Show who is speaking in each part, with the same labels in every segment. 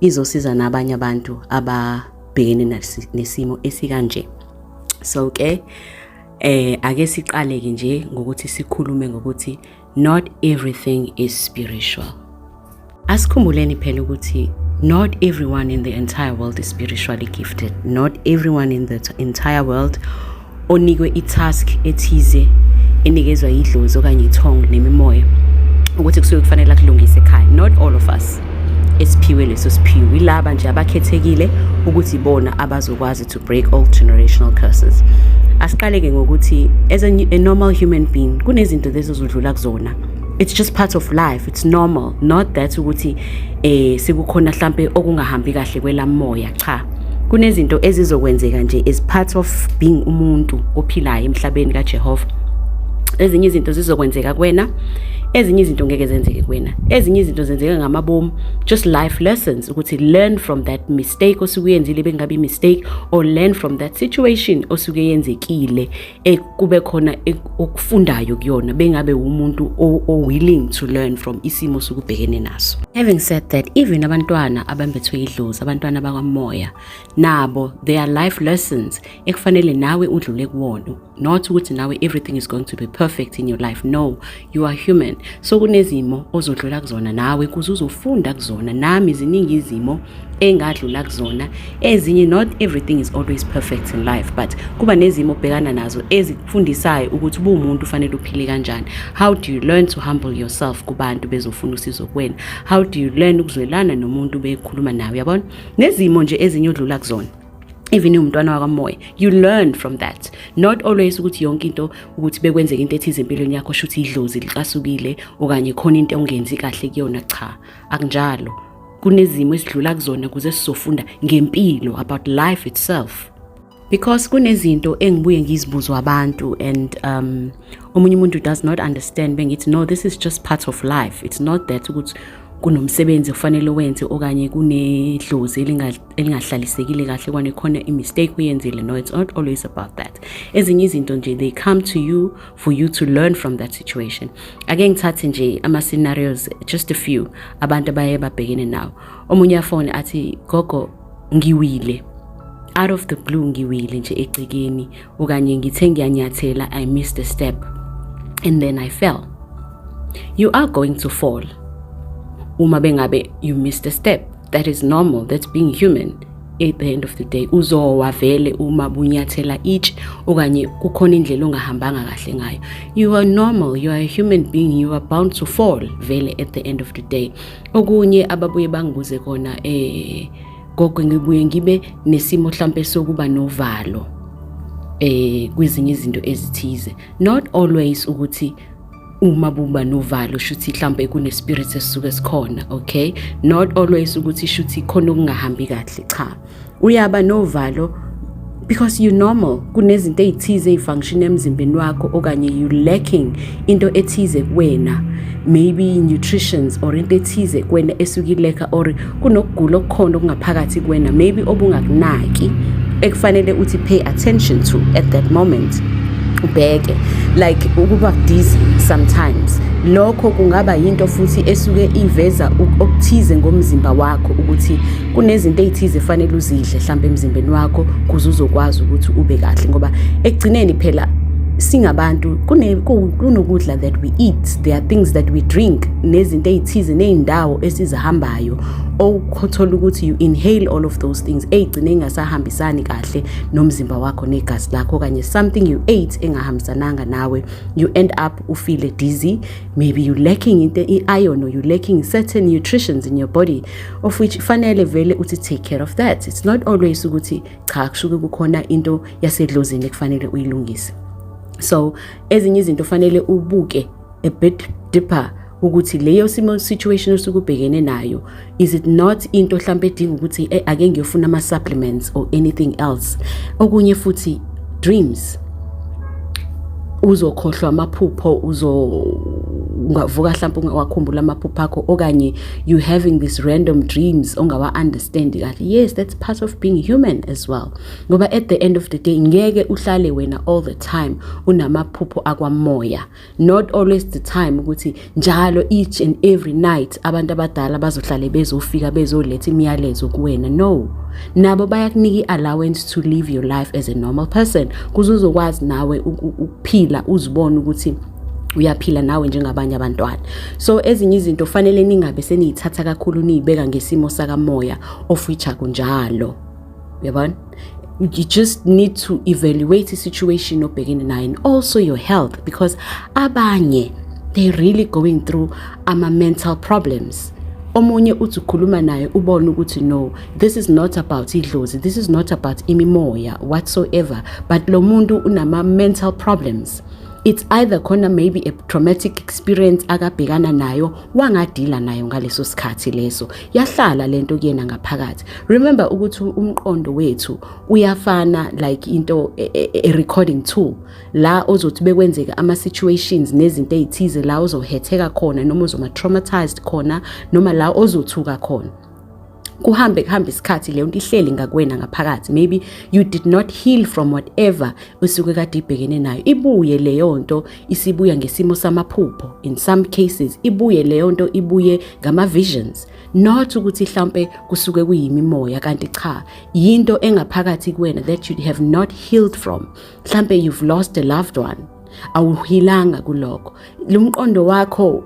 Speaker 1: izosiza nabanye abantu ababhekene nesimo esikanje so ke eh ake siqale ke nje ngokuthi sikhulume ngokuthi not everything is spiritual asikhumbuleni phela ukuthi not everyone in the entire world is spiritually gifted not everyone in the entire world onikwe i-task ethize enikezwa yidlozi okanye ithongo nemimoya ukuthi kusuke kufanele akulungise ekhaya not all of us esiphiwe leso siphiwo yilaba nje abakhethekile ukuthi bona abazokwazi to break all generational curses asiqaleke ngokuthi as a, a normal human being kunezinto lezi ozodlula kuzona it's just part of life it's normal not that ukuthi eh sekukhona mhlambe okungahambi kahle kwelamoya cha kunezinto ezizokwenzeka nje as part of being umuntu ophilayo emhlabeni kaJehova ezinye izinto zizokwenzeka kuwena ezinye izinto ngeke zenzeke kuwena ezinye izinto zenzeka ngamabomu just life lessons ukuthi learn from that mistake osuke uyenzile bengabe mistake or learn from that situation osuke yenzekile e, kube khona e, okufundayo kuyona bengabe umuntu o-willing to learn from isimo sokubhekene naso having said that even abantwana abambethwe idlozi abantwana bakamoya nabo they are life lessons ekufanele nawe udlule kuwona not ukuthi nawe everything is going to be perfect in your life no you are human so kunezimo ozodlula kuzona nawe kuze uzofunda kuzona nami ziningi izimo engadlula kuzona ezinye not everything is always perfect in life but kuba nezimo obhekana nazo ezikufundisayo ukuthi ubuwumuntu ufanele uphile kanjani how do you learn to humble yourself kubantu bezofuna usizo kuwena how do you learn ukuzwelana nomuntu bekhuluma nawe yabona nezimo nje ezinye odlula kuzona even umntwana wakamoya you learn from that not always ukuthi yonke into ukuthi bekwenzeka into ethize empilweni yakho shuthi idlozi licasukile okanye khona into ongenzi kahle kuyona cha akunjalo kunezimo esidlula kuzona kuze sizofunda ngempilo about life itself because kunezinto engibuye ngizibuzwa abantu and um omunye umuntu does not understand bengithi no this is just part of life it's not that ukuthi kunomsebenzi kufanele wenze okanye kunedlozi elingahlalisekile kahle kwane khona i-mistake uyenzile no it's not always about that ezinye izinto nje they come to you for you to learn from that situation ake ngithathe nje ama-scenarios just a few abantu abaye babhekene nawo omunye afone athi gogo ngiwile out of the blue ngiwile nje egcekeni okanye ngithe ngiyanyathela i missed a step and then i fell you are going to fall uma bengabe you missed a step that is normal that's being human at the end of the day uzowa vele uma bunyathela each okanye kukhona indlela ongahambanga kahle ngayo you are normal you are a human being you are bound to fall vele at the end of the day okunye ababuye bangibuze kona eh Gogo ngibuye ngibe nesimo mhlambe sokuba novalo eh kwezinye izinto ezithize not always ukuthi uma buba novalo shuthi mhlambe kune spirit esisuke sikhona okay not always ukuthi shuthi khona okungahambi kahle cha uyaba novalo because you normal kunezinto ezithize ezifunction emzimbeni wakho okanye you lacking into ethize kuwena maybe nutritions or into ethize kuwena esuke ileka or kunokugula okukhona okungaphakathi kuwena maybe obungakunaki ekufanele uthi pay attention to at that moment ubheke like ukuba dizzy sometimes lokho kungaba yinto futhi esuke iveza okuthize ngomzimba wakho ukuthi kunezinto ey'thize fanele uzidle hlampe emzimbeni wakho kuze uzokwazi ukuthi ube kahle ngoba ekugcineni phela singabantu kunokudla that we eat there are things that we drink nezinto ey'thize ney'ndawo esizihambayo okuthola ukuthi you inhale all of those things ey'gcine ingasahambisani kahle nomzimba wakho negazi lakho okanye something you ate engahambisananga nawe you end up ufile dizzy maybe you lacking into i-iron or you lacking certain nutritions in your body of which fanele vele uthi take care of that it's not always ukuthi cha kushuke kukhona into yasedlozini ekufanele uyilungise so ezinye izinto fanele ubuke a bit deeper ukuthi leyo simo situation osukubhekene nayo is it not into mhlambe edinga ukuthi eh, ake ngiyofuna ama supplements or anything else okunye futhi dreams uzokhohlwa amaphupho uzo ungavuka mhlawumbe ungawakhumbula amaphupho akho okanye you having these random dreams ongawa understand kahle yes that's part of being human as well ngoba at the end of the day ngeke uhlale wena all the time unamaphupho akwamoya not always the time ukuthi njalo each and every night abantu abadala bazohlale bezofika bezoletha imiyalezo kuwena no nabo bayakunika i-allowance to live your life as a normal person kuze uzokwazi nawe ukuphila uzibone ukuthi uyaphila nawe njengabanye abantwana so ezinye izinto fanele ningabe seniyithatha kakhulu niyibeka ngesimo sakamoya of which akunjalo uyabona you just need to evaluate the situation obhekene nayo and also your health because abanye they really going through ama mental problems omunye uthi ukhuluma naye ubone ukuthi no this is not about idlozi this is not about imimoya whatsoever but lo muntu unama mental problems it's either khona maybe a traumatic experience akabhekana nayo wangadila nayo ngaleso sikhathi leso yahlala lento kuyena ngaphakathi remember ukuthi umqondo wethu uyafana like into a, e, e, a recording tool la ozothi bekwenzeka ama situations nezinto ezithize la ozohetheka khona noma uzoma traumatized khona noma la ozothuka khona kuhambe kuhambe isikhathi leyo nto ihleli ngakwena ngaphakathi maybe you did not heal from whatever usuke kade ibhekene nayo ibuye leyo nto isibuya ngesimo samaphupho in some cases ibuye leyo nto ibuye ngama-visions not ukuthi mhlawumpe kusuke kuyimimoya kanti cha yinto engaphakathi kuwena that you have not healed from mhlawumpe you've lost a loved one awuhilanga kuloko lumqondo wakho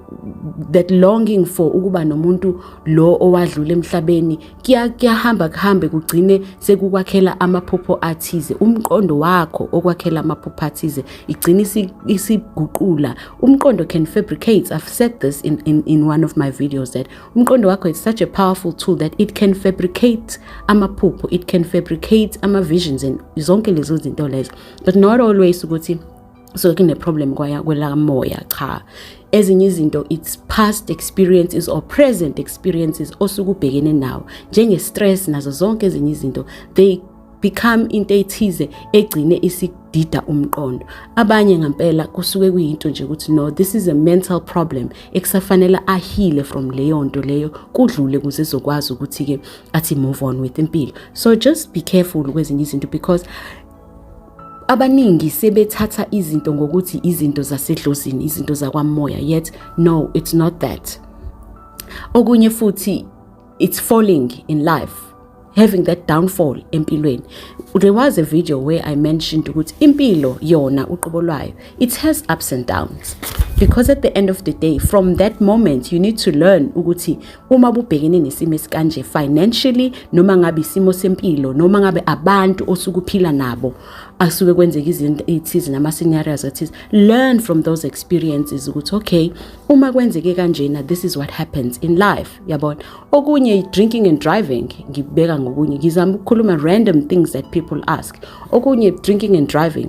Speaker 1: that longing for ukuba nomuntu lo owadlula emhlabeni kuyahamba kuhambe kugcine sekukwakhela amaphupho athize umqondo wakho okwakhela amaphupho athize igcine isiguqula umqondo can fabricate i've said this in, in, in one of my videos that umqondo wakho is such a powerful tool that it can fabricate amaphupho it can fabricate ama-visions and zonke lezo zinto lezo but not always ukuthi so kune-problem kwaya kwelamoya cha ezinye izinto its past experiences or present experiences osuke ubhekene nawo njenge-stress nazo zonke ezinye izinto they become into ethize egcine isidida umqondo abanye ngampela kusuke kuyinto nje ukuthi no this is a mental problem ekusafanela ahile from leyo nto leyo kudlule kuze zokwazi ukuthi-ke athi move on with impilo so just be careful kwezinye izinto because abaningi sebethatha izinto ngokuthi izinto zasedlozini izinto zakwamoya yet no it's not that okunye futhi it's falling in life having that downfall empilweni there was a video where i mentioned ukuthi impilo yona uqobo lwayo it has ups and downs because at the end of the day from that moment you need to learn ukuthi uma bubhekene nesimo esikanje financially noma ngabe isimo sempilo noma ngabe abantu osukuphila nabo asuke kwenzeka izinto ethize nama scenarios ethize learn from those experiences ukuthi okay uma kwenzeke kanjena this is what happens in life yabona okunye drinking and driving ngibeka ngokunye ngizama ukukhuluma random things that people ask okunye drinking and driving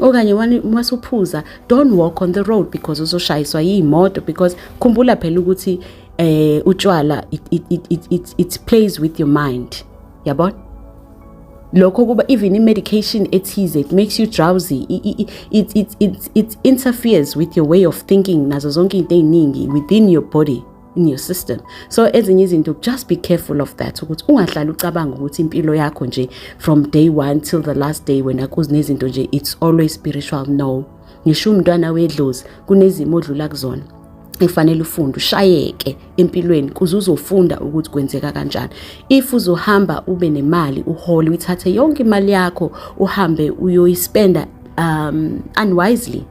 Speaker 1: okanye uma suphuza don't walk on the road because uzoshayiswa yiy'moto because khumbula phela ukuthi eh utshwala it, it, it, it, it, it plays with your mind yabona lokho kuba even i-medication ethize it makes you drowsy it, it, it, it, it interferes with your way of thinking nazo zonke into ey'ningi within your body in your system so ezinye izinto just be careful of that ukuthi ungahlali ucabanga ukuthi impilo yakho nje from day one till the last day wena kuzinezinto nje it's always spiritual no ngisho umntwana wedlozi kunezimo odlula kuzona efanele ufunde ushayeke empilweni kuze uzofunda ukuthi kwenzeka kanjani if uzohamba ube nemali uhole uyithathe yonke imali yakho uhambe uyoyispenda um unwisely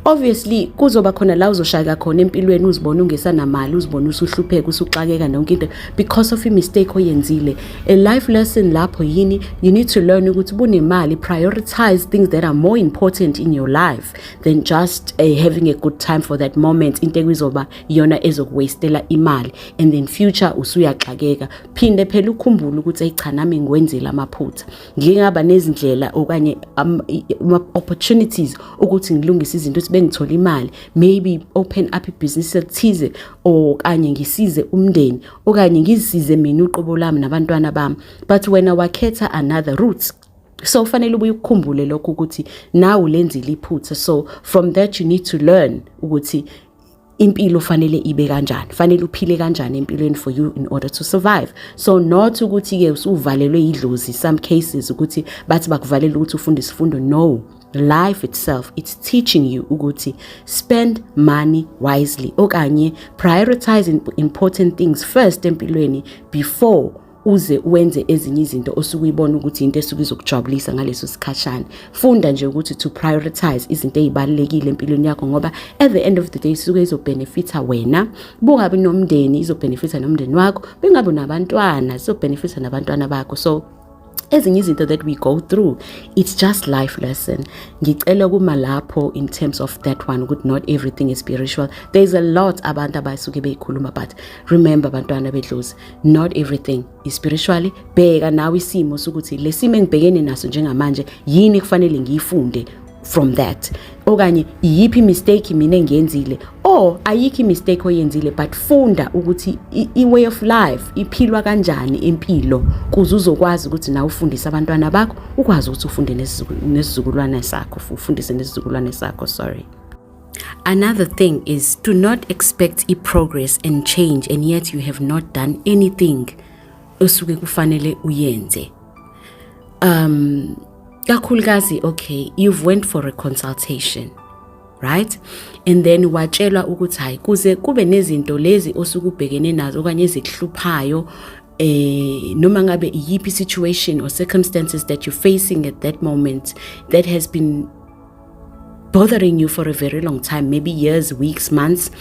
Speaker 1: obviously kuzoba khona la uzoshayeka khona empilweni uzibona ungesanamali uzibona usuhlupheka usuxakeka nonke into because of imistake oyenzile a life lesson lapho yini you need to learn ukuthi bunemali prioritize things that are more important in your life than just uh, having a good time for that moment into ekuzoba iyona ezokuwastela imali and then future usuyaxakeka phinde phela ukhumbule ukuthi eyicha nami ngiwenzile amaphutha ngingaba nezindlela okanye um, opportunities ukuthi ngilungise izinto ukuthi bengithole imali maybe open up ibusiness elithize okanye ngisize umndeni okanye ngizisize mina uqobo lami nabantwana bami but wena wakhetha another route so ufanele ubuye ukukhumbule lokho ukuthi nawe ulenzile iphutha so from that you need to learn ukuthi impilo fanele ibe kanjani fanele uphile kanjani empilweni for you in order to survive so not ukuthi ke usuvalelwe idlozi some cases ukuthi bathi bakuvalela ukuthi ufunde isifundo no life itself it's teaching you ukuthi spend money wisely okanye prioritize important things first empilweni before uze wenze ezinye izinto osuke uyibona ukuthi into esuke izokujabulisa ngaleso sikhashana funda nje ukuthi to prioritize izinto ezibalekile empilweni yakho ngoba at the end of the day isuke izobenefita wena bungabi nomndeni izobenefita nomndeni wakho bengabi nabantwana izobenefita nabantwana bakho so ezinye izinto that we go through it's just life lesson ngicela kuma lapho in terms of that one ukuthi not everything is spiritual there's a lot abantu abasuke beyikhuluma but remember bantwana bedlozi not everything is spiritually bheka nawe isimo sokuthi lesimo engibhekene naso njengamanje yini kufanele ngiyifunde from that okanye iyiphi mistake mina engiyenzile or ayikho mistake oyenzile but funda ukuthi i-way of life iphilwa kanjani impilo kuze uzokwazi ukuthi nawe ufundise abantwana bakho ukwazi ukuthi ufunde nesizukulwane sakho ufundise nesizukulwane sakho sorry Another thing is to not expect e progress and change and yet you have not done anything osuke kufanele uyenze. Um kakhulukazi okay you've went for a consultation right and then watshelwa ukuthi hayi kuze kube nezinto lezi osukubhekene nazo okanye ezikuhluphayo eh noma ngabe iyiphi situation or circumstances that you're facing at that moment that has been bothering you for a very long time maybe years weeks months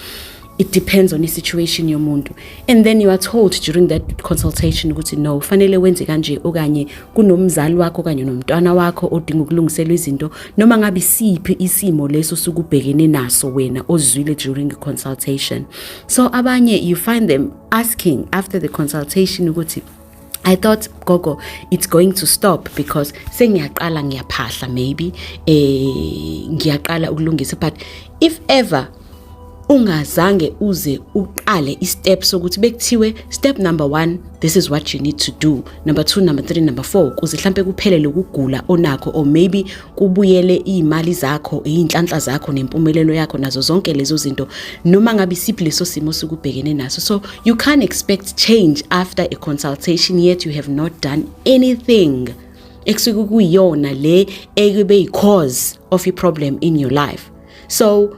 Speaker 1: it depends on i-situation yomuntu and then you are told during that consultation ukuthi no fanele wenze kanje okanye kunomzali wakho okanye nomntwana wakho odinga ukulungiselwa izinto noma ngabe siphi isimo leso sukubhekene naso wena ozwile during consultation so abanye you find them asking after the consultation ukuthi I thought gogo it's going to stop because sengiyaqala ngiyaphahla maybe eh ngiyaqala ukulungisa but if ever ungazange uze uqale istep sokuthi bekuthiwe step number 1 this is what you need to do number 2 number 3 number 4 kuze mhlambe kuphele lokugula onakho or maybe kubuyele iy'mali zakho iy'nhlanhla zakho nempumelelo yakho nazo zonke lezo zinto noma ngabe isiphi leso simo sikubhekene naso so you can't expect change after a consultation yet you have not done anything ekusuke kuyiyona le ekube yi-cause of i-problem in your life so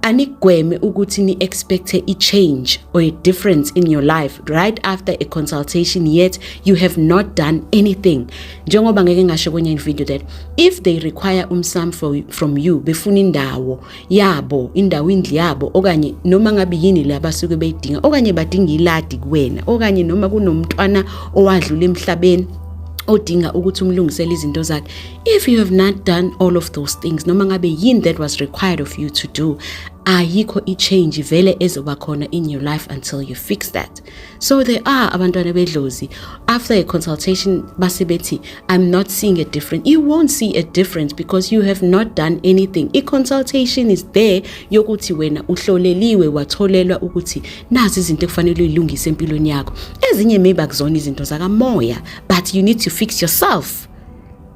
Speaker 1: anigweme ukuthi ni expect a change or a difference in your life right after a consultation yet you have not done anything njengoba ngeke ngasho kwenye video that if they require umsam from you befuna indawo yabo indawo indli yabo okanye noma ngabe yini le abasuke beyidinga okanye badinga iladi kuwena okanye noma kunomntwana owadlula emhlabeni odinga ukuthi umlungisele izinto zakhe if you have not done all of those things noma ngabe yini that was required of you to do ayikho i-change vele ezoba khona in your life until you fix that so there are abantwana bedlozi after a consultation base bethi i'm not seeing a difference you won't see a difference because you have not done anything i-consultation is there yokuthi wena uhloleliwe watholelwa ukuthi nazi izinto ekufanele uyilungise empilweni yakho ezinye maybe akuzona izinto zakamoya but you need to fix yourself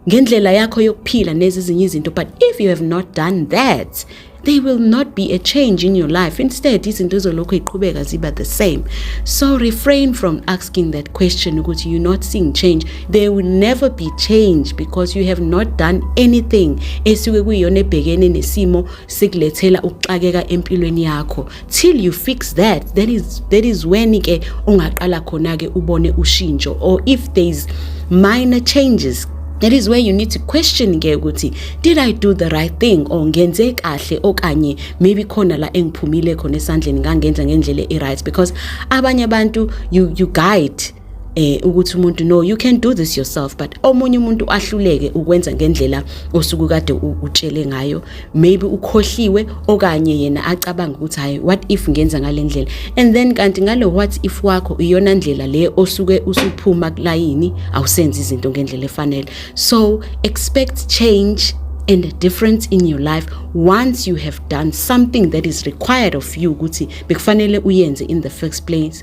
Speaker 1: ngendlela yakho yokuphila nezizinye izinto but if you have not done that they will not be a change in your life instead izinto ezolokhu iqhubeka ziba the same so refrain from asking that question ukuthi you not seeing change there will never be change because you have not done anything esuke kuyiyona ebhekene nesimo sikulethela ukuxakeka empilweni yakho till you fix that that is that is when ke ungaqala khona ke ubone ushintsho or if there is minor changes that is where you need to question ke ukuthi did i do the right thing or ngenze kahle okanye maybe khona la engiphumile khona esandleni ngangenza ngendlela e-right because abanye abantu you, you guide eh ukuthi umuntu no you can do this yourself but omunye umuntu ahluleke ukwenza ngendlela osuku kade utshele ngayo maybe ukhohliwe okanye yena acabanga ukuthi hayi what if ngenza ngalendlela and then kanti ngale what if wakho iyona ndlela le osuke usuphuma kulayini awusenzi izinto ngendlela efanele so expect change and a difference in your life once you have done something that is required of you ukuthi bekufanele uyenze in the first place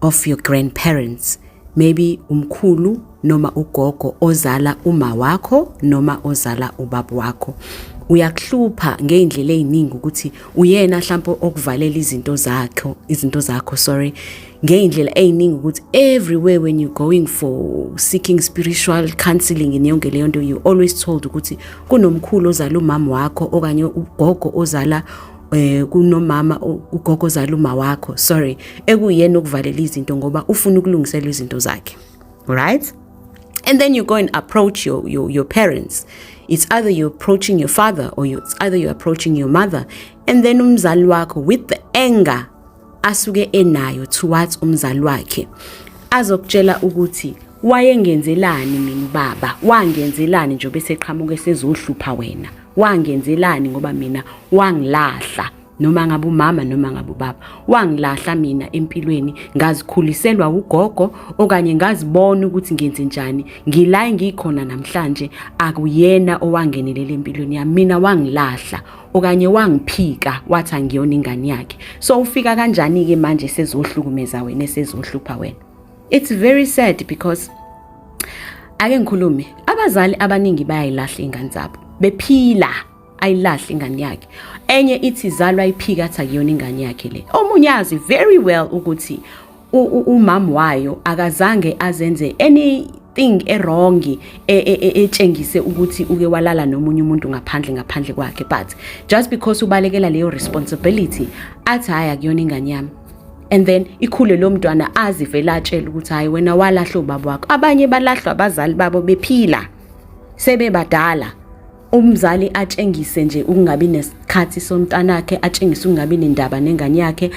Speaker 1: of your grandparents maybe umkhulu noma ugogo ozala uma wakho noma ozala ubaba wakho uyakuhlupha ngeindlela eziningi ukuthi uyena mhlawumbe okuvalela izinto zakho izinto zakho sorry ngeindlela eziningi ukuthi everywhere when you going for seeking spiritual counseling in yonke leyo nto you always told ukuthi kunomkhulu ozala umama wakho okanye ugogo ozala eh kunomama ugogo zala uma wakho sorry ekuyena ukuvalela izinto ngoba ufuna ukulungisela izinto zakhe right and then you go and approach your, your, your parents it's either you're approaching your father or you, it's either you're approaching your mother and then umzali wakho with the anger asuke enayo towards umzali wakhe azokutshela ukuthi wayengenzelani mina baba wangenzelani nje beseqhamuke sezohlupha wena wangenzelani ngoba mina wangilahla noma ngabe umama noma ngabe ubaba wangilahla mina empilweni ngazikhuliselwa ugogo okanye ngazibona ukuthi ngenze njani ngila ngikhona namhlanje akuyena owangenelela empilweni yami mina wangilahla okanye wangiphika wathi angiyona ingane yakhe so ufika kanjani ke manje sezohlukumeza wena sezohlupha wena it's very sad because ake ngikhulume abazali abaningi bayayilahla ingane zabo bephila ayilahle ingane yakhe enye ithi zalwa iphika athi akuyona ingane yakhe le omunye azi very well ukuthi umam wayo akazange azenze any thing erongi e, e, e, etshengise ukuthi uke walala nomunye umuntu ngaphandle ngaphandle kwakhe but just because ubalekela leyo responsibility athi hayi akuyona ingane yami and then ikhule lo mntwana azivele atshela ukuthi hayi wena walahlwa ubaba wakho abanye balahlwa abazali babo bephila sebebadala umzali atshengise nje ukungabi nesikhathi somntanakhe atshengise ukungabi nendaba nengane yakhe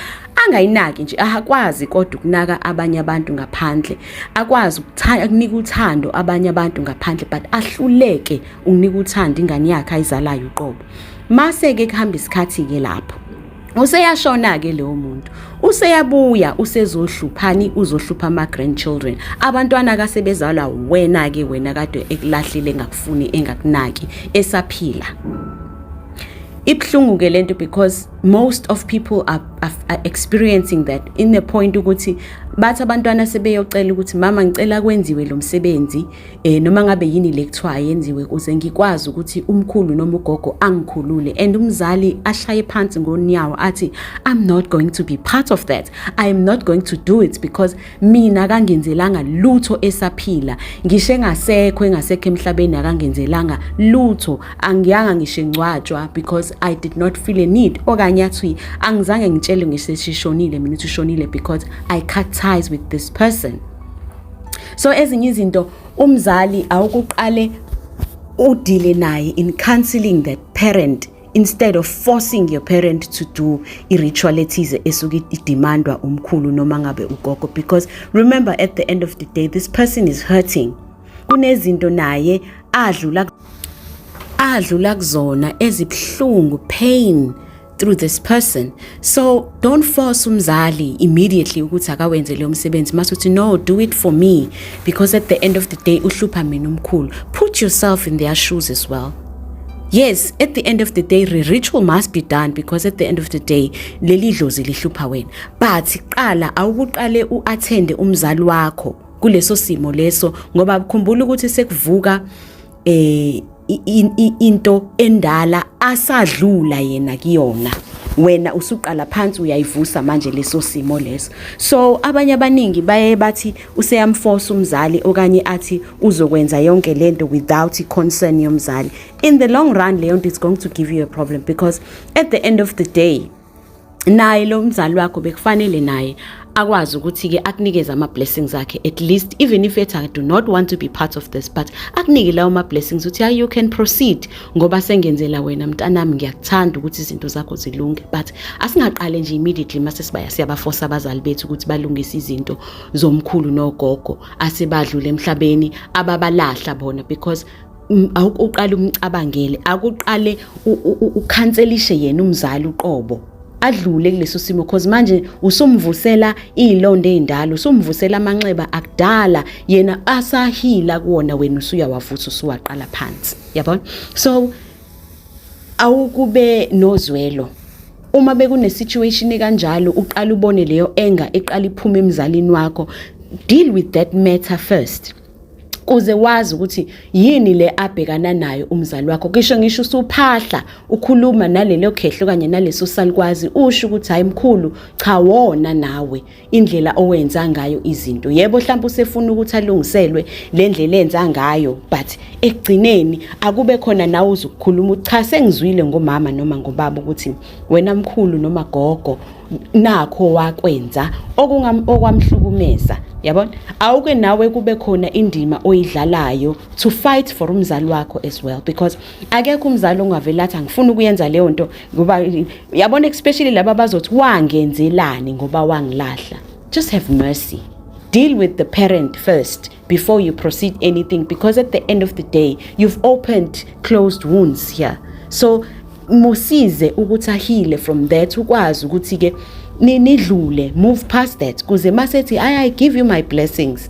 Speaker 1: angayinaki nje akwazi kodwa ukunaka abanye abantu ngaphandle akwazi ukunika uthando abanye abantu ngaphandle but ahluleke ukunika uthando ingane yakhe ayizalayo uqobo mase-ke kuhamba isikhathi-ke lapho useyashona-ke leyo muntu useyabuya usezohluphani uzohlupha ama-grandchildren abantwana kasebezalwa wena-ke wena kade ekulahlile engakufuni engakunaki esaphila ibuhlungu-ke le nto because most of people are, are, are experiencing that in the point ukuthi bathi abantwana sebeyocela ukuthi mama ngicela kwenziwe lo msebenzi eh noma ngabe yini lekuthiwa yenziwe kuze ngikwazi ukuthi umkhulu noma ugogo angikhulule and umzali ashaye phansi ngonyawo athi i'm not going to be part of that i am not going to do it because mina kangenzelanga lutho esaphila ngisho engasekho engasekho emhlabeni akangenzelanga lutho angiyanga ngisho ngcwatshwa because i did not feel a need okanye athi angizange ngitshelwe ngiseshishonile mina uthi ushonile because i cut ties with this person so ezinye izinto umzali awukuqale udile naye in counseling that parent instead of forcing your parent to do i-ritual ethize esuke idemandwa umkhulu noma ngabe ugogo because remember at the end of the day this person is hurting kunezinto naye adlula adlula kuzona ezibuhlungu pain through this person so don't force umzali immediately ukuthi akawenze leyo msebenzi mase uthi no do it for me because at the end of the day uhlupha mina umkhulu put yourself in their shoes as well yes at the end of the day the ritual must be done because at the end of the day leli dlozi lihlupha wena but qala awukuqale uattende umzali wakho kuleso simo leso ngoba kukhumbula ukuthi sekuvuka eh into endala asadlula yena kuyona wena usuqala phansi uyayivusa manje leso simo leso so abanye abaningi baye bathi useyamforce umzali okanye athi uzokwenza yonke lento without concern yomzali in the long run leyo nto is going to give you a problem because at the end of the day naye lo mzali wakho bekufanele naye akwazi ukuthi-ke akunikeze ama-blessings akhe at least even if ethi i do not want to be part of this but akunike lawo ma-blessings ukuthi hayi you can proceed ngoba sengenzela wena mntanami ngiyakuthanda ukuthi izinto zakho zilunge but asingaqale nje immediately mase sibaya siyabafosa abazali bethu ukuthi balungise izinto zomkhulu nogogo asebadlule emhlabeni ababalahla bona because um, awuqale umcabangele akuqale ukhanselishe yena umzali uqobo adlule kuleso simo cause manje usumvusela izilonda ezindala usumvusela amanxeba akudala yena asahila kuona wena usuyawavusa usuwaqala phansi yabona so awukube nozwelo uma bekune situation kanjalo uqala ubone leyo anger eqala iphuma emzalini wakho deal with that matter first kuze wazi ukuthi yini le abhekana nayo umzali wakho kisho ngisho usuphahla ukhuluma nalelo khehlo kanye naleso salikwazi usho ukuthi hayi mkhulu cha wona nawe indlela owenza ngayo izinto yebo mhlawumbe usefuna ukuthi alungiselwe le ndlela enza ngayo but ekugcineni akube khona nawe uzukukhuluma ucha sengizwile ngomama noma ngobaba ukuthi wena mkhulu noma gogo nakho wakwenza okwamhlukumeza yabona awuke nawe kube khona indima oyidlalayo to fight for umzali wakho as well because akekho umzali ongavela athi angifuni ukuyenza leyo nto ngoba yabona especially laba bazothi wangenzelani ngoba wangilahla just have mercy deal with the parent first before you proceed anything because at the end of the day you've opened closed wounds here so musize ukuthi ahile from that ukwazi ukuthi ke nidlule move past that kuze masethi i give you my blessings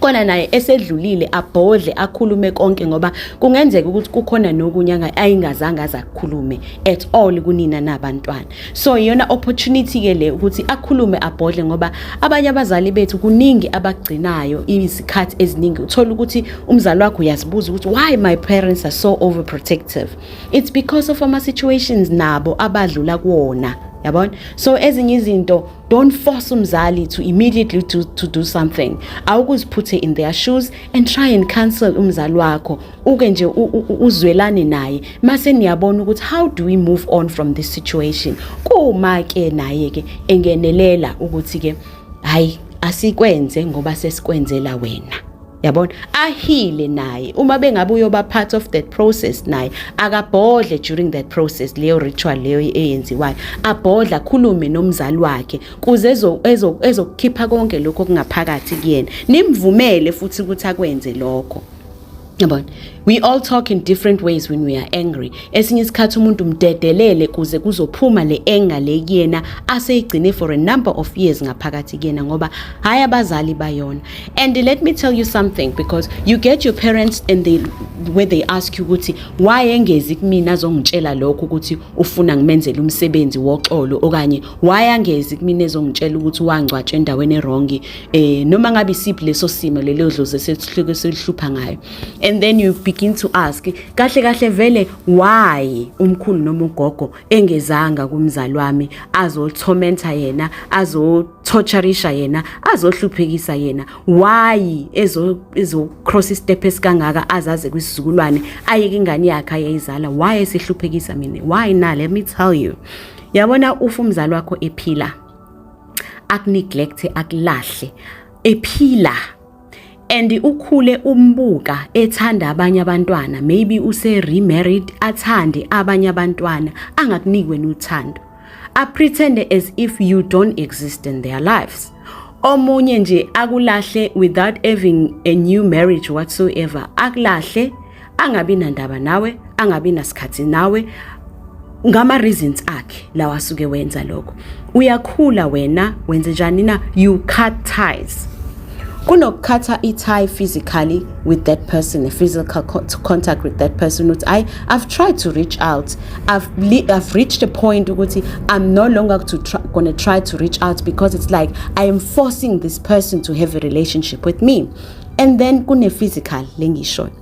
Speaker 1: kona naye esedlulile abhodle akhulume konke ngoba kungenzeka ukuthi kukhona nokunye ayingazange azakukhulume at all kunina nabantwana so iyona opportunity ke le ukuthi akhulume abhodle ngoba abanye abazali bethu kuningi abagcinayo izikhathi eziningi uthola ukuthi umzali wakho uyazibuza ukuthi why my parents are so overprotective it's because of ama situations nabo abadlula kuwona yabona so ezinye izinto don't force umzali to immediately to, to do something awukuziphuthe in their shoes and try and counsel umzali wakho uke nje uzwelane naye mase niyabona ukuthi how do we move on from this situation kuma ke naye ke engenelela ukuthi ke hayi asikwenze ngoba sesikwenzela wena yabona ahile naye uma bengabe uyoba part of that process naye akabhodle during that process leyo ritual leyo eyenziwayo abhodla khulume nomzali wakhe kuze ezokukhipha konke lokho kungaphakathi kuyena nimvumele futhi ukuthi akwenze lokho yabona we all talk in different ways when we are angry esinye isikhathi umuntu mdedelele kuze kuzophuma le anger le kuyena aseyigcine for a number of years ngaphakathi kuyena ngoba hayi abazali bayona and let me tell you something because you get your parents and they where they ask you ukuthi why engezi kumina azongitshela lokho ukuthi ufuna ngimenzele umsebenzi woxolo okanye why angezi kumina ezongitshela ukuthi wangcwatshe endaweni erongi eh noma ngabe isiphi leso simo lelo dlozi esesihluke selihlupha ngayo and then you begin to ask kahle kahle vele why umkhulu noma ugogo engezanga kumzali wami azothomenta yena azo torturisha yena azohluphekisa yena why ezo ezo cross step esikangaka azaze kwisizukulwane ayeke ingane yakhe ayizala why esihluphekisa mina why na let me tell you yabona ufa umzali wakho ephila akuneglect akulahle ephila and ukhule umbuka ethanda abanye abantwana maybe use remarried athande abanye abantwana angakuniki wena uthando a pretend as if you don't exist in their lives omunye nje akulahle without having a new marriage whatsoever akulahle angabi nandaba nawe angabi nasikhathi nawe ngama reasons akhe lawa asuke wenza lokho uyakhula wena wenze njani na you cut ties kunokukhatha i-tie physically with that person a physical contact with that person ukuthi i i've tried to reach out i've i've reached a point ukuthi i'm no longer to try, gonna try to reach out because it's like i am forcing this person to have a relationship with me and then kune physical lengishoyo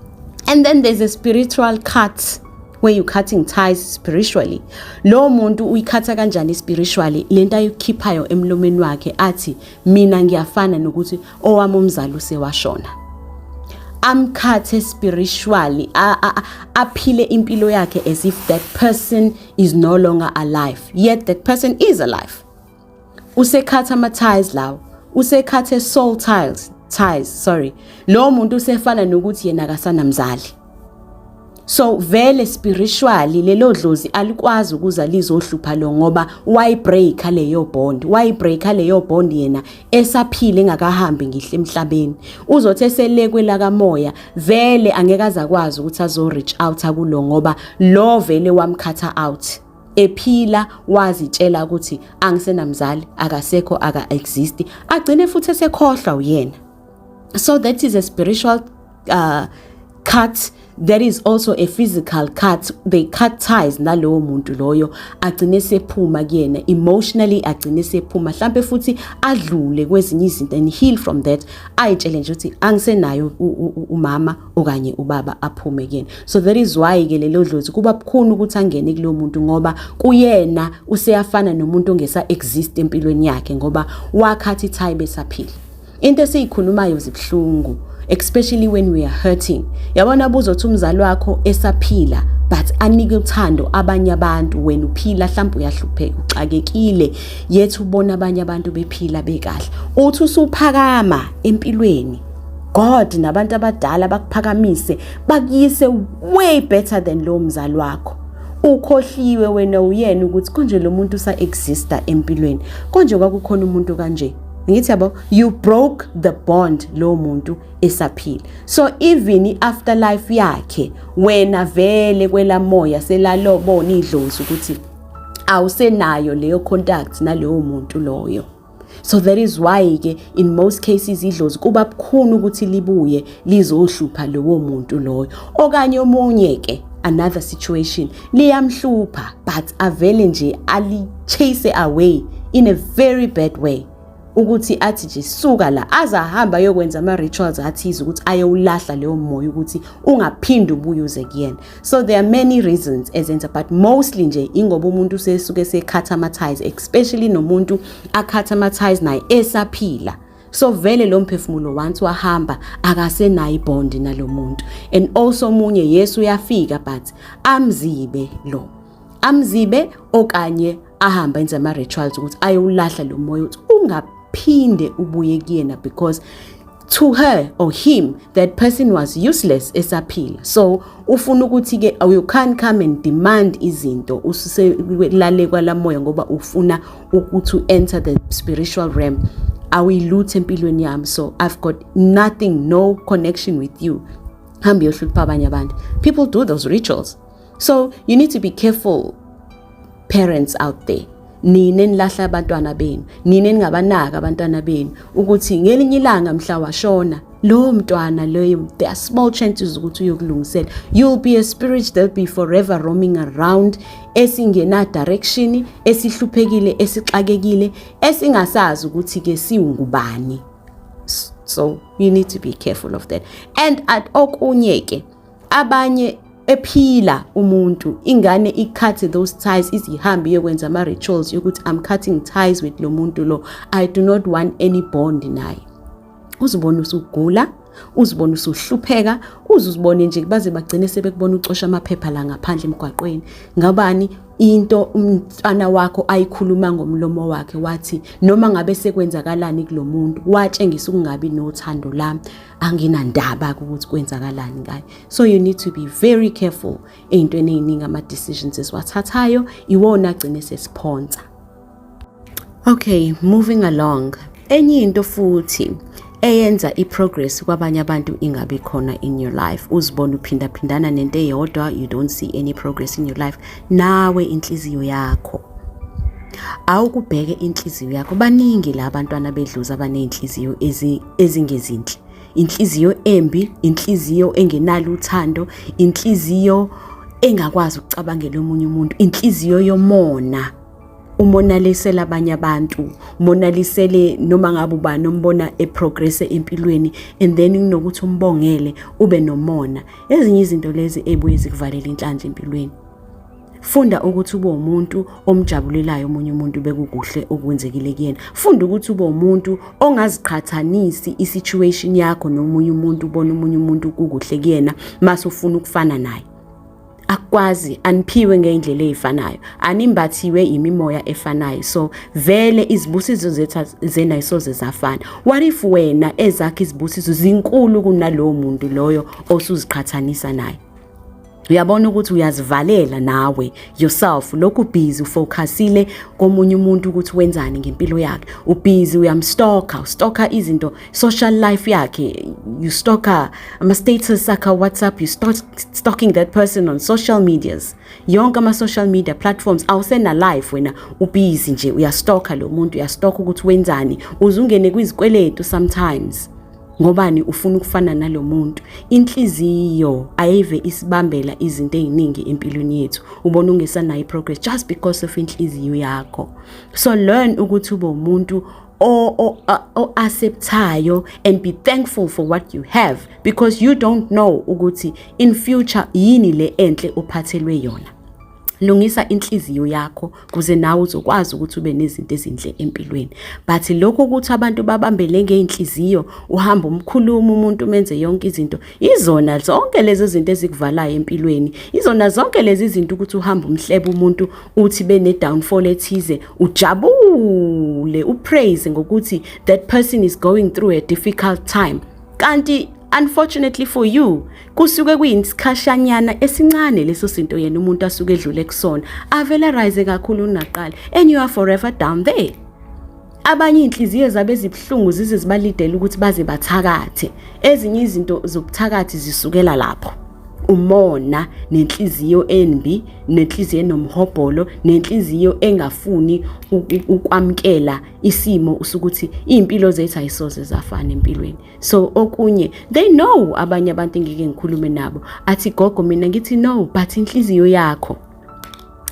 Speaker 1: and then there's a spiritual cut where you cutting ties spiritually lo muntu uyikhatha kanjani spiritually lento ayikhiphayo emlomeni wakhe athi mina ngiyafana nokuthi owami umzali usewashona amkhathe spiritually aphile impilo yakhe as if that person is no longer alive yet that person is alive usekhatha ama ties lawo usekhathe soul ties ties sorry lo muntu usefana nokuthi yena akasanamzali so vele spiritually lelo dlozi alikwazi ukuza lizohlupha lo ngoba why break leyo bond why break leyo bond yena esaphile engakahambi ngihle emhlabeni uzothi eselekwe la kamoya vele angeke azakwazi ukuthi azo reach out kulo ngoba lo vele wamkhatha out ephila wazitshela ukuthi angisenamzali akasekho aka exist agcine futhi esekhohlwa uyena so that is a spiritual uh, cut there is also a physical cut they cut ties nalowo muntu loyo agcine sephuma kuyena emotionally agcine sephuma mhlambe futhi adlule kwezinye izinto and heal from that ayitshele nje ukuthi angisenayo umama okanye ubaba aphume kuyena so that is why ke lelo dlozi kuba bukhuni ukuthi angene kulo muntu ngoba kuyena useyafana nomuntu ongesa exist empilweni yakhe ngoba wakhathi thayi besaphila into esiyikhulumayo zibuhlungu especially when we are hurting yabona buzothi umzali wakho esaphila but anike uthando abanye abantu wena uphila mhlawumbe uyahlupheka uxakekile yethu ubona abanye abantu bephila bekahle uthi usuphakama empilweni God nabantu abadala bakuphakamise bakuyise way better than lo mzali wakho ukhohliwe wena uyena ukuthi konje lo muntu usa exista empilweni konje kwakukhona umuntu kanje ngithi yabo you broke the bond lo muntu esaphila so even after life yakhe wena vele kwelamoya selalobona idlozi ukuthi awusenayo leyo contact nalowo muntu loyo so that is why ke in most cases idlozi kuba bukhuni ukuthi libuye lizohlupha lowo muntu loyo okanye omunye ke another situation liyamhlupha but avele nje ali chase away in a very bad way ukuthi athi nje suka la aze ahamba ayokwenza ama-rituals athize ukuthi ayowulahla leyo moya ukuthi ungaphinde ubuye uze kuyena so there are many reasons ezenza but mostly nje ingoba umuntu usesuke sekhatha ama-ties especially nomuntu akhatha ama-ties naye esaphila so vele lo mphefumulo once wahamba akasenayo ibond nalo muntu and also omunye yesu uyafika but amzibe lo amzibe okanye ahamba enze ama-rituals ukuthi ayowulahla lo moya ukuthi ungaphinde ubuye kuyena because to her or him that person was useless esaphila so ufuna ukuthi ke you can't come and demand izinto ususelale kwalamoya ngoba ufuna ukuthi enter the spiritual realm awuyiluthe empilweni yami so i've got nothing no connection with you hambe yohlupha abanye abantu people do those rituals so you need to be careful parents out there nina enilahla abantwana benu nina eningabanaka abantwana benu ukuthi ngelinye ilanga mhla washona lowo mntwana loyo there are small chances ukuthi uyokulungisela you'll be a spirit that be forever roaming around esingena direction esihluphekile esixakekile esingasazi ukuthi ke siwungubani so you need to be careful of that and at okunye ke abanye ephila umuntu ingane icut those ties izihambe iyokwenza ama rituals yokuthi i'm cutting ties with lo muntu lo i do not want any bond naye uzibona usugula uzibona usuhlupheka uzuzibone nje baze bagcine sebekubona ucosha amaphepha la ngaphandle emgwaqweni ngabani into umntwana wakho ayikhuluma ngomlomo wakhe wathi noma ngabe sekwenzakalani kulomuntu watshengisa ukungabi nothando lami anginandaba ukuthi kwenzakalani ngayo so you need to be very careful ey'ntweni ey'ningi ama-decisions esiwathathayo iwona agcine sesiphonsa okay moving along enye into futhi eyenza i-progress kwabanye abantu ingabi khona in your life uzibona uphindaphindana nento eyodwa you don't see any progress in your life nawe inhliziyo yakho awukubheke inhliziyo yakho baningi la bantwana bedluza abaney'nhliziyo ezingezinhle inhliziyo embi inhliziyo engenalo uthando inhliziyo engakwazi ukucabangela omunye umuntu inhliziyo yomona umonalisela abanye abantu umonalisele noma ngabe ubani ombona eprogresse empilweni and then kunokuthi umbongele ube nomona ezinye izinto lezi ebuye zikuvalela inhlanhla empilweni funda ukuthi ube umuntu omjabulelayo omunye umuntu bekukuhle okwenzekile kuyena funda ukuthi ube umuntu ongaziqhathanisi isituation yakho nomunye umuntu ubona omunye umuntu kukuhle kuyena mase ufuna ukufana naye akwazi aniphiwe ngeindlela ezifanayo animbathiwe imimoya efanayo so vele izibusizo zethu zena isoze zafana what if wena ezakhe izibusizo zinkulu kunalowo muntu loyo osuziqhathanisa naye uyabona ukuthi uyazivalela nawe yourself lokhu busy ufocusile komunye umuntu ukuthi wenzani ngempilo yakhe ubusy uyamstalker ustalker izinto social life yakhe you stalker ama status akhe WhatsApp you start stalking that person on social medias yonke ama social media platforms awusena life wena ubusy nje uyastalker lo muntu uyastalker ukuthi wenzani uzungene kwizikweletu sometimes ngobani ufuna ukufana nalo muntu inhliziyo ayive isibambela izinto eziningi empilweni yethu ubona ungesanayo progress just because of inhliziyo yakho so learn ukuthi ube umuntu o-acceptayo and be thankful for what you have because you don't know ukuthi in future yini le enhle ophathelwe yona lungisa inhliziyo yakho kuze nawe uzokwazi ukuthi ube nezinto ezinhle empilweni but lokho ukuthi abantu babambele ngeinhliziyo uhamba umkhuluma umuntu umenze yonke izinto izona zonke lezi zinto ezikuvalayo empilweni izona zonke lezi zinto ukuthi uhamba umhlebe umuntu uthi bene downfall ethize ujabule upraise ngokuthi that person is going through a difficult time kanti unfortunately for you kusuke kuyisikhashanyana esincane leso sinto yena umuntu asuke edlule kusona avele rise kakhulu unaqala and you are forever down there abanye inhliziyo zabe zibuhlungu zize zibalidela ukuthi baze bathakathe ezinye izinto zobuthakathi zisukela lapho umona nenhliziyo enbi nenhliziyo enomhobholo nenhliziyo engafuni ukwamkela isimo usukuthi impilo zethu ayisoze zafana empilweni so okunye they know abanye abantu engike ngikhulume nabo athi gogo mina ngithi no but inhliziyo yakho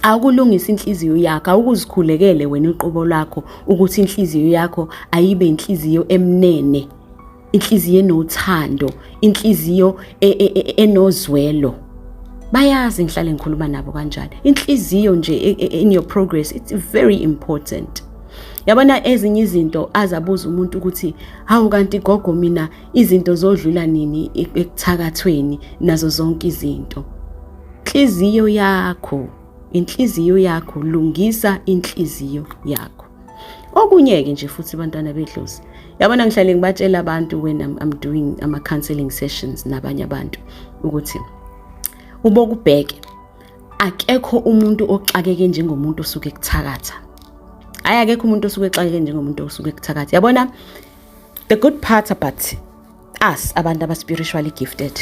Speaker 1: awukulungisa inhliziyo yakho awukuzikhulekele wena uqobo lwakho ukuthi inhliziyo yakho ayibe inhliziyo emnene inhliziyo enothando inhliziyo e, e, e, enozwelo bayazi ngihlale ngikhuluma nabo kanjani inhliziyo nje in your progress it's very important yabona ezinye izinto azabuza umuntu ukuthi hawu kanti gogo mina izinto zodlula nini ekuthakathweni nazo zonke izinto inhliziyo yakho inhliziyo yakho lungisa inhliziyo yakho okunye-ke nje futhi bantwana bedlozi yabona ngihlale ngibatshela abantu when I'm, I'm doing ama-counseling sessions nabanye abantu ukuthi ubokubheke akekho umuntu oxakeke njengomuntu osuke kuthakatha hayi akekho umuntu osuke exakeke njengomuntu osuke kuthakatha yabona the good part about us abantu abaspiritually gifted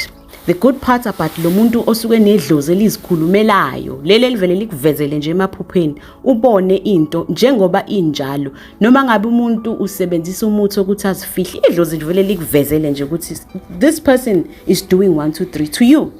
Speaker 1: the good part about lo muntu osuke nedlozi elizikhulumelayo leli elivele likuvezele nje emaphupheni ubone into njengoba injalo noma ngabe umuntu usebenzisa umuthi okuthi azifihle idlozi livele likuvezele nje ukuthi this person is doing 1 2 3 to you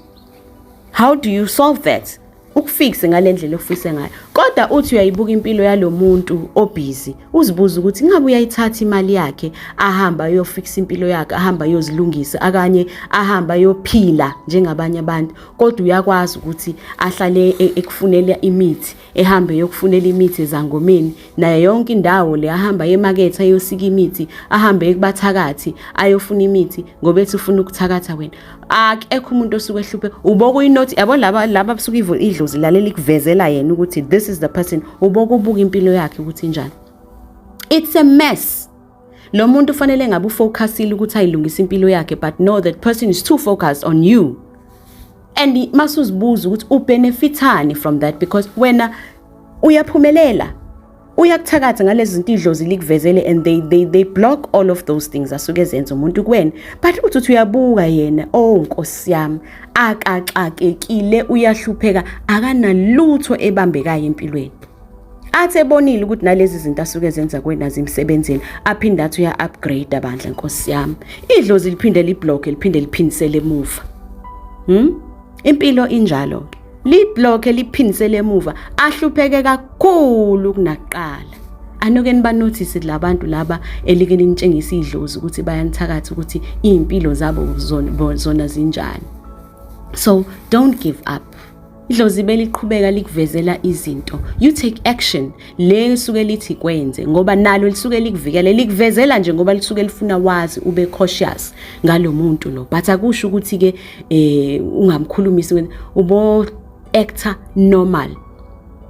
Speaker 1: how do you solve that ukufikse ngalendlela ofise ngayo kodwa uthi uyayibuka impilo yalomuntu obhizi uzibuza ukuthi ngabe uyayithatha imali yakhe ahamba ayofikisa impilo yakhe ahamba ayozilungisa akanye ahamba ayophila njengabanye abantu kodwa uyakwazi ukuthi ahlale e-, ekufunela imithi ehambe yokufunela imithi ezangomeni naye yonke indawo le ahamba yemakethe ayosika imithi ahambe ekubathakathi ayofuna imithi ngoba ethi ufuna ukuthakatha wena akekho umuntu osuke ehluphe uboka uyinothi yabo laba laba abasuke idlozi lalela ikuvezela yena ukuthi this is the person uboka ubuka impilo yakhe ukuthi njani it's a mess Lo muntu fanele ngabe ufocusile ukuthi ayilungise impilo yakhe but no that person is too focused on you. And masuzibuza ukuthi ubenefithani from that because wena uyaphumelela uyakuthakatha ngalezi zinto idlozi likuvezele and they they they block all of those things asuke ezenza umuntu kuwena but uthi uthi uyabuka yena oh nkosi yami akaxakekile uyahlupheka akanalutho ebambekayo empilweni athi ebonile ukuthi nalezi zinto asuke zenza kwena zimsebenzini aphinde athi uya-upgrade bandla nkosi yami idlozi liphinde libloke liphinde liphindisele emuva hmm? impilo injalo-ke libloke liphindisele emuva ahlupheke kakhulu kunakuqala anoke nibanothise labantu laba elike linitshengisa idlozi ukuthi bayanithakatha ukuthi izimpilo zabo zona zinjani so don't give up Idlozi beliqhubeka likuvezela izinto. You take action le lisuke lithi kwenze ngoba nalo lisuke likuvikele likuvezela nje ngoba lisuke lifuna wazi ube cautious ngalomuntu lo. But akusho ukuthi ke eh ungamkhulumisi ubo actor normal.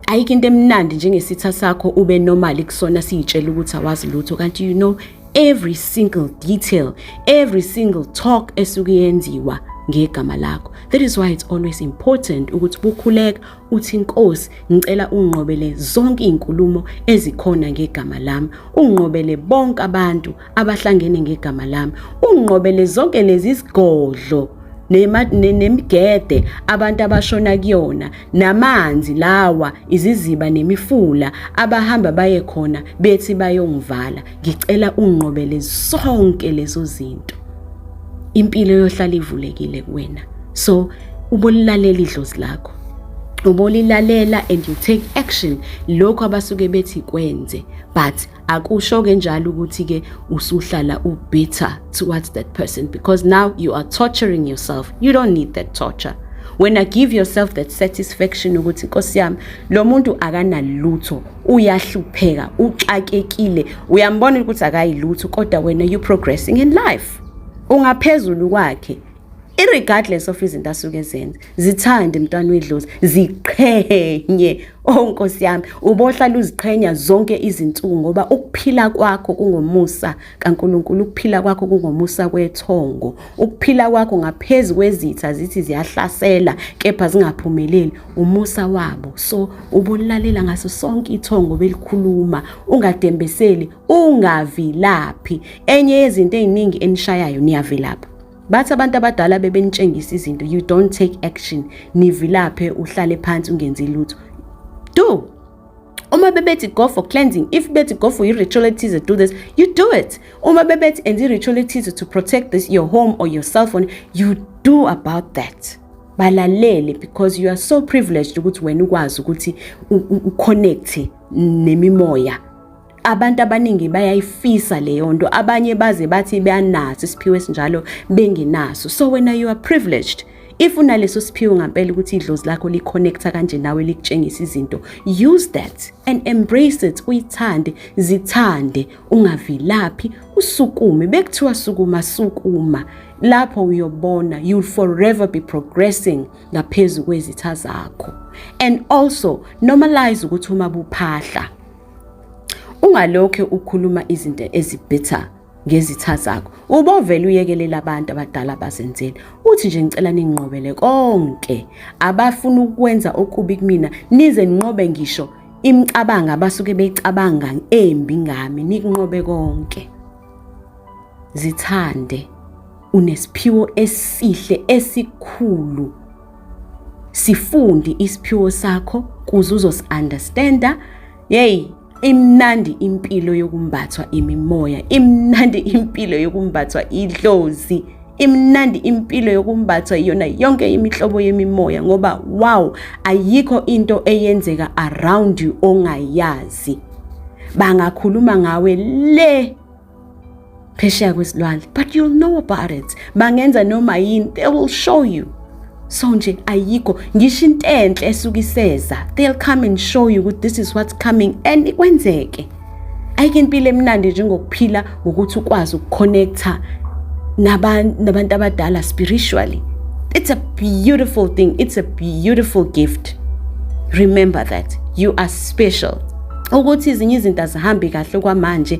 Speaker 1: Ayikho into emnandi njengesitha sakho ube normal kusona siyitshela ukuthi awazi lutho kanti you know every single detail every single talk esuke yenziwa ngegama lakho that is why it's always important ukuthi bukhuleka uthi inkosi ngicela unqobele zonke izinkulumo ezikhona ngegama lami unqobele bonke abantu abahlangene ngegama lami unqobele zonke lezi zigodlo nemigede abantu abashona kuyona namanzi lawa iziziba nemifula abahamba baye khona bethi bayongivala ngicela unqobele sonke lezo zinto impilo yohlala ivulekile kuwena so ubolilalela idlozi lakho ubolilalela and you take action lokho abasuke bethi kwenze but akusho ke njalo ukuthi ke usuhlala ubitter towards that person because now you are torturing yourself you don't need that torture when i give yourself that satisfaction ukuthi inkosi yami lo muntu akanalutho uyahlupheka uxakekile uyambona ukuthi akayilutho kodwa wena you progressing in life ungaphezulu kwakhe irregardless of izinto asuke ezenza zithande mntwana uyidlozi ziqhenye oh nkosi yami ubohlala uziqhenya zonke izinsuku ngoba ukuphila kwakho kungomusa kaNkuluNkulu ukuphila kwakho kungomusa kwethongo ukuphila kwakho ngaphezulu kwezitha zithi ziyahlasela kepha zingaphumeleli umusa wabo so ubolalela ngaso sonke ithongo belikhuluma ungadembeseli ungavilaphi enye yezinto eziningi enishayayo niyavilapha bathi abantu abadala bebenitshengisa izinto you don't take action nivilaphe uhlale phansi ungenzi lutho do uma bebethi go for cleansing if bethi go for i-ritual ethize do this you do it uma bebethi enza i-ritual ethize to protect this your home or your cell phone you do about that balalele because you are so privileged ukuthi wena ukwazi ukuthi uconnecte nemimoya abantu abaningi bayayifisa leyo nto abanye baze bathi beyanaso isiphiwo esinjalo bengenaso so wena you are privileged if unaleso siphiwo ngampela ukuthi idlozi lakho liconnecta kanje nawe likutshengisa izinto use that and embrace it uyithande zithande ungavilaphi usukume bekuthiwa sukuma sukuma lapho uyobona you'll forever be progressing ngaphezu kwezitha zakho and also normalize ukuthi uma buphahla ungalokhe ukhuluma izinto ezibitha ngezitha zakho ubovela uyekelela abantu abadala bazenzele uthi nje ngicela ninginqobele konke abafuna ukwenza okubi kumina nize ninqobe ngisho imicabango abasuke beyicabanga embi ngami nikunqobe konke zithande unesiphiwo esihle esikhulu sifundi isiphiwo sakho kuze uzosiunderstanda yeyi imnandi impilo yokumbathwa imimoya imnandi impilo yokumbathwa idlozi imnandi impilo yokumbathwa iyona yonke imihlobo yemimoya ngoba wow ayikho into eyenzeka around you ongayazi bangakhuluma ngawe le phesheya kwezilwandle but you'll know about it bangenza noma yini they will show you so nje ayikho ngisho into enhle esuke iseza they'll come and show you ukuthi this is what's coming and ikwenzeke ayike impilo emnandi njengokuphila ngokuthi ukwazi ukuconnecta nabantu abadala spiritually it's a beautiful thing it's a beautiful gift remember that you are special ukuthi izinye izinto azihambi kahle kwamanje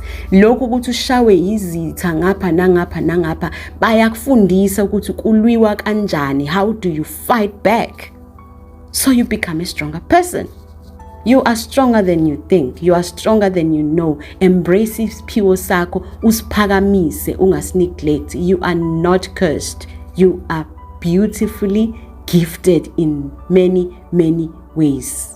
Speaker 1: lokhu ukuthi ushawe yizitha ngapha nangapha nangapha bayakufundisa ukuthi kulwiwa kanjani how do you fight back so you become a stronger person you are stronger than you think you are stronger than you know embrace isiphiwo sakho usiphakamise ungasineglect you are not cursed you are beautifully gifted in many many ways